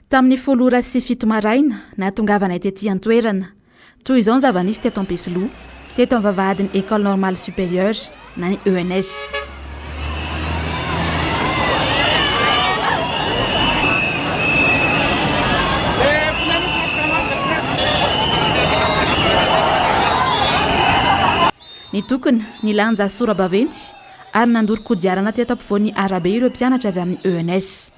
Tamin'ny folo ora sy fito maraina, nahatongavanay tety an-toerana. Toy izao ny zava-nisy teto Ampefiloha, teto amin'ny vavahadin'ny École Normale Supérieure na ny ENS. Nitokona, nilanja sora-baventy ary nandoro kodiarana teto ampovoan'ny arabe ireo mpianatra avy amin'ny ENS.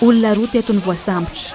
Olona roa teto no voasambotra.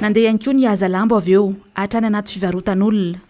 Nandeha ihany koa ny hazalambo avy eo hatrany anaty fivarotan'olona.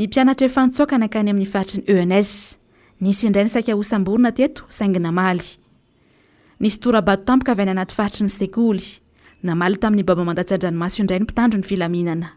Ny mpianatra efa nitsoaka nankany amin'ny faritry ny ENS. Nisy indray ny saika hosamborina teto saingy namaly. Nisy tora-bato tampoka avy any anaty faritry ny sekoly. Namaly tamin'ny baomba mandatsa-dranomaso indray ny mpitandro ny filaminana.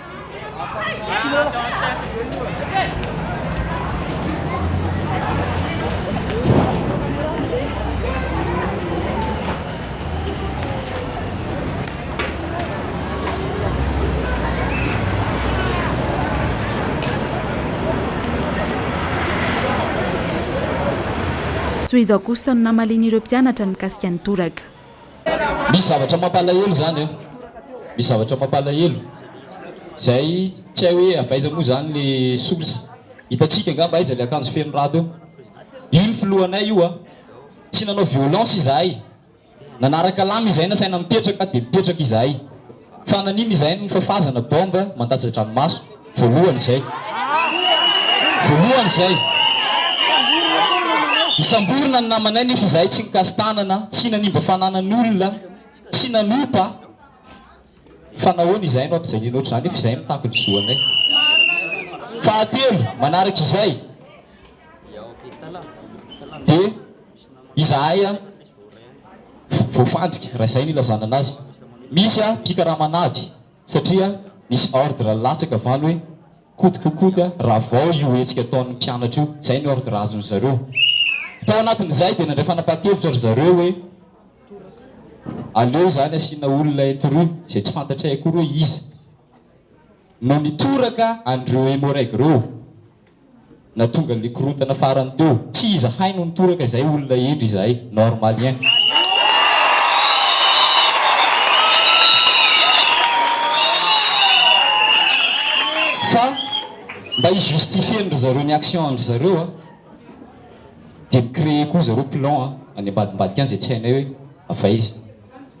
Tohizo kosa no namalian'ireo mpianatra ny mikasika ny toraka. Misy zavatra mampalahelo zany an! Misy zavatra mampalahelo zay tsy hay hoe avy aiza moa zany le source. Hitantsika angamba aiza le akanjo feno rado eo. Io ny filohanay io an! Tsy nanao violence izahay. Nanaraka lamina izahay nasaina mipetraka dia mipetraka izahay. Fa naninona izahay no fafazana bombe mandatsa-dranomaso voalohany izay? Voalohany izay! Nisamborina ny namanay nefa izahay tsy nikasi-tanana, tsy nanimba fananan'olona, tsy nanompa. Fa nahoana izahay no ampijaliana ohatr'izany nefa izahay mitaky ny zo anay? Fahatelo, manaraka izay dia. Izahay voafandrika raha izay no ilazana anazy. Misy mpikaramana ady satria nisy ordre latsaka valo hoe kody ko kody raha vao io hetsika ataon'ny mpianatra io. Izay ny ordre azon'ny zareo. Tao anatin'izay dia nandray fanapahan-kevitra ry zareo hoe aleo izany asiana olona introux izay tsy fantatray akory hoe iza no nitoraka an'ireo Emmo-Reg ireo. Nahatonga le korontana farany teo. Tsy izahay no nitoraka izay olona hendry izahay. Normalien. Fa mba hi justifier ndry zareo ny action ndry zareo a, dia mi-creer koa zareo plan any ambadimbadika any izay tsy hainay hoe avy aiza.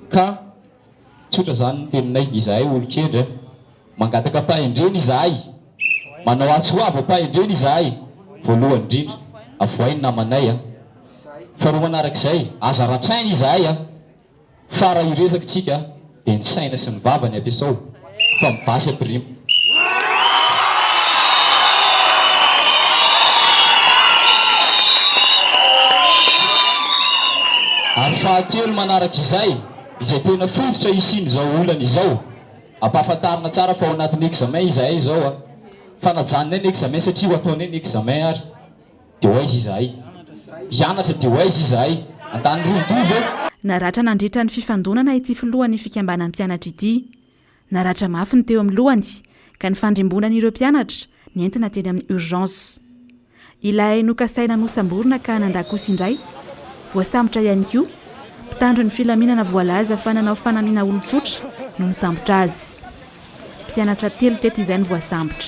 Ka. Tsotra izany ny teninay, izahay olon-kendry a! Mangataka ampahendrena izahay, manao atsy ho avy ampahendrena izahay, voalohany indrindra, avohay ny namanay a! Faharoa manarak'izay, aza ratraina izahay a! Fara io resaky tsika a! Dia ny saina sy ny vava ny ampiasao. fa ny basy ampirimo. Ary fahatelo manaraka izay, izay tena fototra hisian'izao olana izao, ampahafantarina tsara fa ao anatin'ny examen izahay izao a! Fanajanonay ny examen satria ho ataonay ny examen ary. Dia ho aiza izahay? Hianatra dia ho aiza izahay? Antanirondroi ve? Naratra nandritra ny fifandonana ity filohan'ny fikambanan'ny mpianatra ity. Naratra mafy ny teo amin'ny lohany ka nifandrimbonany ireo mpianatra, nentina teny amin'ny urgence. Ilay nokasaina nosamborina ka nandà kosa indray, voasambotra ihany koa. Mpitandro ny filaminana voalaza fa nanao fanamiana olon-tsotra no nisambotra azy. Mpianatra telo teto izay no voasambotra.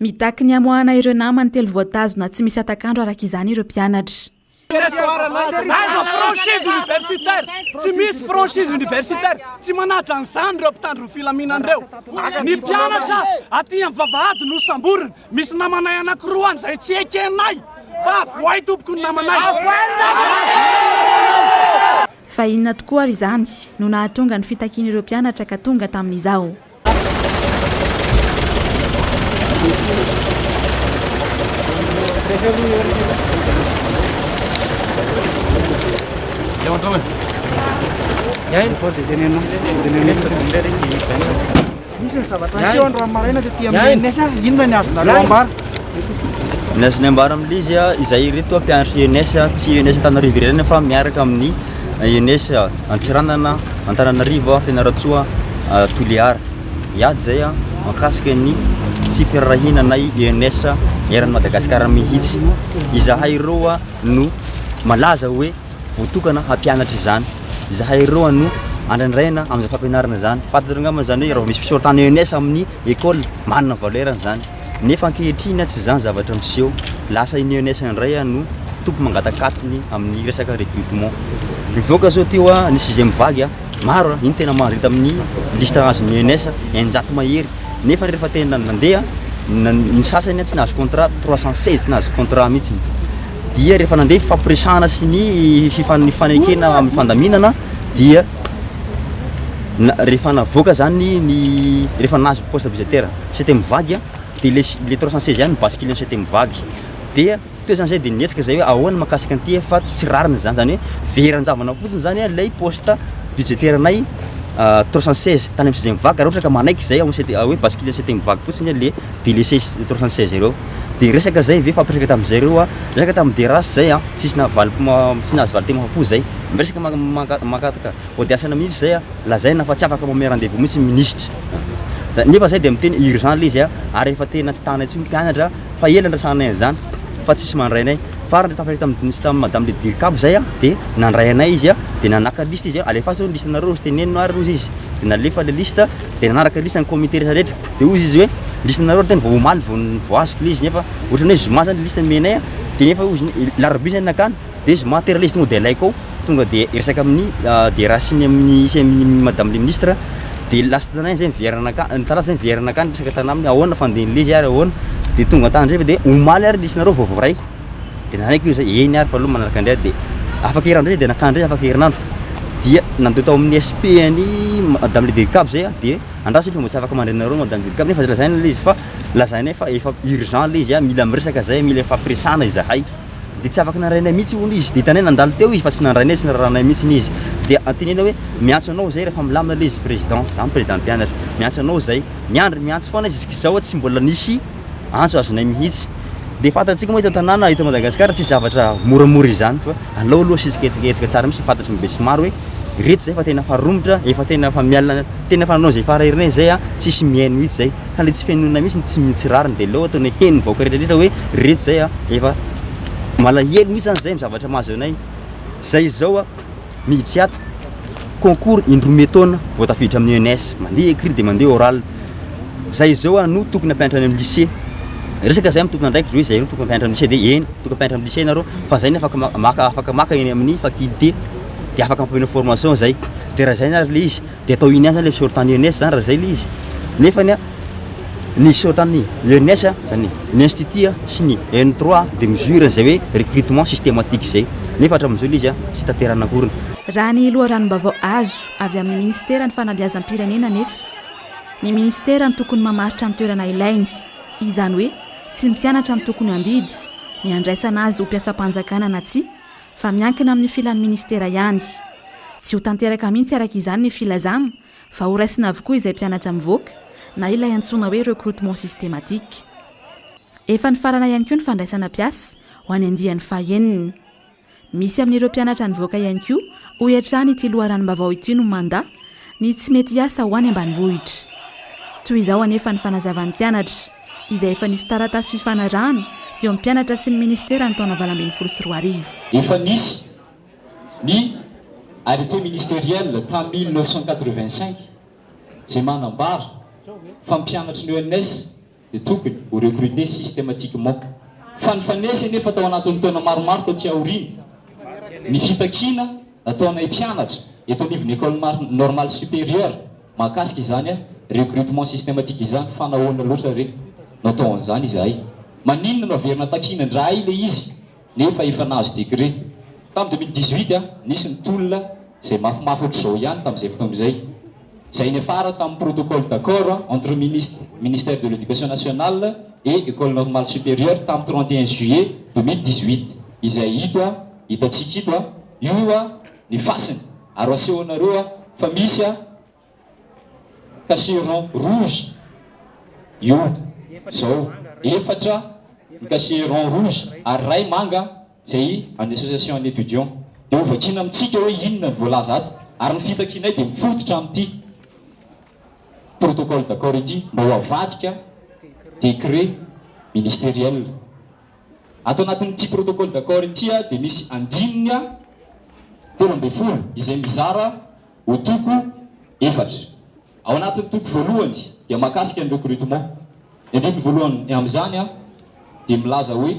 Mitaky ny hamoahana ireo namany telo voatazona tsy misy hatak'andro araka izany ireo mpianatra. Aza franchise universitaire, tsy misy franchise universitaire, tsy manaja an'izany ireo mpitandro ny filaminana ireo. Ny mpianatra aty amin'ny vavahady no samborina, misy namanay anankiroa any izay tsy ekenay fa avohay tompoko ny namanay. Fa inona tokoa ary izany no nahatonga ny fitakian'ireo mpianatra ka tonga tamin'izao? Nisy ny zavatra niseho androany maraina tety amin'ny ENS, inona ny azonareo ambara? Ny azonay ambara amin'ilay izy, izahay ireto mpianatry ENS, tsy ENS Antananarivo irery ihany fa miaraka amin'ny ENS Antsiranana, Antananarivo, Fianarantsoa, Toliara. Hiady izay mahakasika ny tsy firaharahiana anay ENS eran'i Madagasikara mihitsy. Izahay ireo no malaza hoe. Voatokana hampianatra izany izahay ireo ano andraindraina amin'izany fampianarana izany. Fantatrareo angamba izany hoe raha vao misy fisoratana ENS amin'ny ecole, manana valeur-ny izany. Nefa ankehitriny tsy izany zavatra miseho. Lasa iny ENS indray ano tompo mangatak'atiny amin'ny resaka recrutement. Mivoaka zao ty hoa ny sixième vague a! Maro a! Iny tena maro hita amin'ny liste azon'ny ENS, eninjato mahery. Nefa rehefa tena nandeha, ny sasany tsy nahazo contrat, trois cent seize tsy nahazo contrat mihitsiny. dia rehefa nandeha fifampiresahana sy ny fifanekena amin'ny fandaminana dia rehefa navoaka zany ny rehefa nahazo poste budgétaire cité mivady a dia ilay ilay trois cent seize ihany no basculer ny cité mivady dia teo zany zay dia nihetsika zay hoe ahoana mahakasika an'ity fa tsy rariny zany zany hoe very an-javana fotsiny zany a ilay poste budgétaire anay trois cent seize tany amin'ny cité mivady ka raha ohatra ka manaiky zay ao amin'ny cité hoe basculer ny cité mivady fotsiny le délaisser trois cent seize ireo de resaka zay ve fampiresaka tamzay reo a, resaka tam Derace zay a, tsisy naha valim-po ma, tsy nahazo valintenin'ny maha-po zay, miresaka ma, maka, mangataka audience-na minitry zay a, lazaina fa tsy afaka mamehy rendez-vous mintsy ny minisitra, zay, nefa zay de miteny urgent le izy a, ary efa tena tsy tana intsony mpianatra fa ela nirasahanay an'zany fa tsisy mandray anay, farany tafaresaka tam, nisy tam madame le Dircab zay a, de nandray anay izy a, de nanaka liste izy a, alefaso ny liste-nareo, tenenino ary ozy izy, de nalefa le liste, de nanaraka liste ny comité rehetra rehetra. Dia hoy izy hoe, liste nareo ry tena vao omaly vao vao azoko le izy nefa ohatrany hoe zoma zany liste nomenay a, de nefa hoy izy ny larobia zay nakany de zoma tera le izy tonga de alaiko ao, tonga de resaka amin'ny DRH ny amin'ny sy amin'i madame le ministre de last tanainy zay miverina nakany, ny talata zay miverina nakany resaka tanaminy ahoana fandin'i le izy ary ahoana, de tonga an-tandrefy de omaly ary liste nareo vao voaraiko, de nanaiky le izy hoe eny ary fa aleo manaraka indray de afaka herinandro ndray izy de nakany ndray afaka herinandro dia nandeha tao amin'ny SP an'i madame le dedicab zay a de Andraso efa mbo tsy afaka mandray anareo Madame Julie Kab nefa zay lazaina le izy fa lazaina eo fa efa urgent le izy a mila miresaka zay mila ifampiresahana izahay de tsy afaka nandrainay mihitsy hono izy de hitanay nandalo teo izy fa tsy nandrainay sy nirarahanay mihitsy ny izy de antenaina hoe miantso anao zay rehefa milamina le izy Président za Président mpianatra miantso anao zay miandry miantso foana izy zisk'izao tsy mbola nisy antso azonay mihitsy. Dia fantatsika moa eto an-tanàna, eto Madagasikara, tsy zavatra moramora izany fa alao aloha asisika hetsika tsara mihitsy fantatry ny besimaro hoe ireto izay fa tena efa romotra, efa tena efa miala, tena efa nanao izay fara herinay izay a, tsisy mihaino mihitsy izay. Ka ilay tsy fihainoana mihitsy, tsy tsy rariny dia aleo ataonay heno ny vahoaka rehetra hoe ireto izay a, efa malahelo mihitsy izany izay amin'ny zavatra mahazo anay. Izay izao a! Miditra ato concours indroa me taona vao tafiditra amin'ny ENS. Mandeha écrit dia mandeha oral. Zay izao a no tokony hampianatra any amin'ny lycée. Resaka zay amin'ny tompon'andraikitra hoe zay no tokony hampianatra amin'ny lycée dia eny tokony hampianatra amin'ny lycée ianareo fa zay no afaka maka afaka maka eny amin'ny faculté dia afaka ampianao formation zay. Dia raha zay na ary le izy De atao inian zany le sort any ENS zany raha zay le izy. Nefany a ny sort any ENS a zany ny institut a sy ny en trois a de mesure zay hoe recrutement systematique zay. Nefa hatramin'izao le izy a tsy tanterahana akoriny. Raha ny loharanom-baovao azo avy amin'ny Minisiteran'ny Fanabeazam-pirenena anefa, ny Minisitera no tokony mamaritra ny toerana ilainy, izany hoe tsy ny mpianatra no tokony handidy ny handraisana azy ho mpiasam-panjakana na tsia fa miankina amin'ny filan'ny ministera ihany. Tsy ho tanteraka mihitsy araka izany ny filazana fa horaisina avokoa izay mpianatra mivoaka na ilay antsoina hoe recrutement systématique. Efa nifarana ihany koa ny fandraisana mpiasa ho any andiany fahenina. Misy amin'ireo mpianatra nivoaka ihany koa hoy hatrany ity loharanom-baovao ity no manda ny tsy mety hiasa ho any ambanivohitra. Toy izao anefa ny fanazavan'ny mpianatra. izay efa nisy taratasy fifanarahana teo amin'ny mpianatra sy ny minisitera ny taona valo ambin'ny folo sy roa arivo. Efa nisy ny arrêté ministériel tamin'ny mille neuf cent quatre-vingt-cinq izay manambara fa ny mpianatry ny ENS dia tokony ho recruter systématiquement. Fa nifanesy anefa tao anatin'ny taona maromaro taty aoriana ny fitakiana nataonay mpianatra eto anivon'ny Ecole normale supérieure mahakasika izany recrutement systematique izany fa nahoana loatra re no atao an'izany izahay? Maninona no averina takiana indray ilay izy nefa efa nahazo décret? Tamin'ny deux mille dix-huit nisy ny tolona izay mafimafy ohatr'izao ihany tamin'izay fotoana izay izay niafara tamin'ny protocole d'accord entre ministère de l'éducation nationale et Ecole normale supérieure tamin'ny trente et un juillet deux mille dix-huit izay hita Hitantsika ito a! Io a ny fasiny ary aseho anareo a fa misy a cachet rond rouge io zao, efatra ny cachet rond rouge ary ray manga zay an'ny association an'ny étudiants. Dia ho vakiana amintsika hoe inona ny voalaza ato ary ny fitakianay dia mifototra amin'ity protocole d'accord ity mba ho avadika décret ministériel Ato anatin'ity protocole d'accord ity dia misy andininy telo ambin'ny folo izay mizara ho toko efatra. Ao anatin'ny toko voalohany dia mahakasika ny recrutement. Ny andininy voalohany amin'izany dia milaza hoe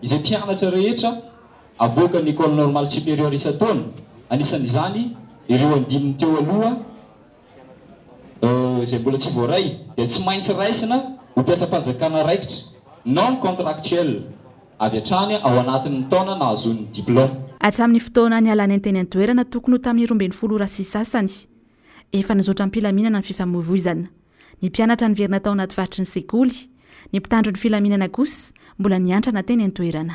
izay mpianatra rehetra avoakan'ny Ecole Normale Supérieure isan-taona, anisan'izany ireo andininy teo aloha, izay mbola tsy voaray dia tsy maintsy raisina ho mpiasam-panjakana raikitra, non contractuel, avy hatrany ao anatin'ny taona nahazoany ny diplaoma. Hatramin'ny fotoana nialany teny an-toerana tokony ho tamin'ny roa ambin'ny folo ora sy sasany, efa nizotra am-pilaminana ny fifamoivoizana. Ny mpianatra niverina tao anaty faritry ny sekoly, ny mpitandro ny filaminana kosa mbola niantrana teny an-toerana.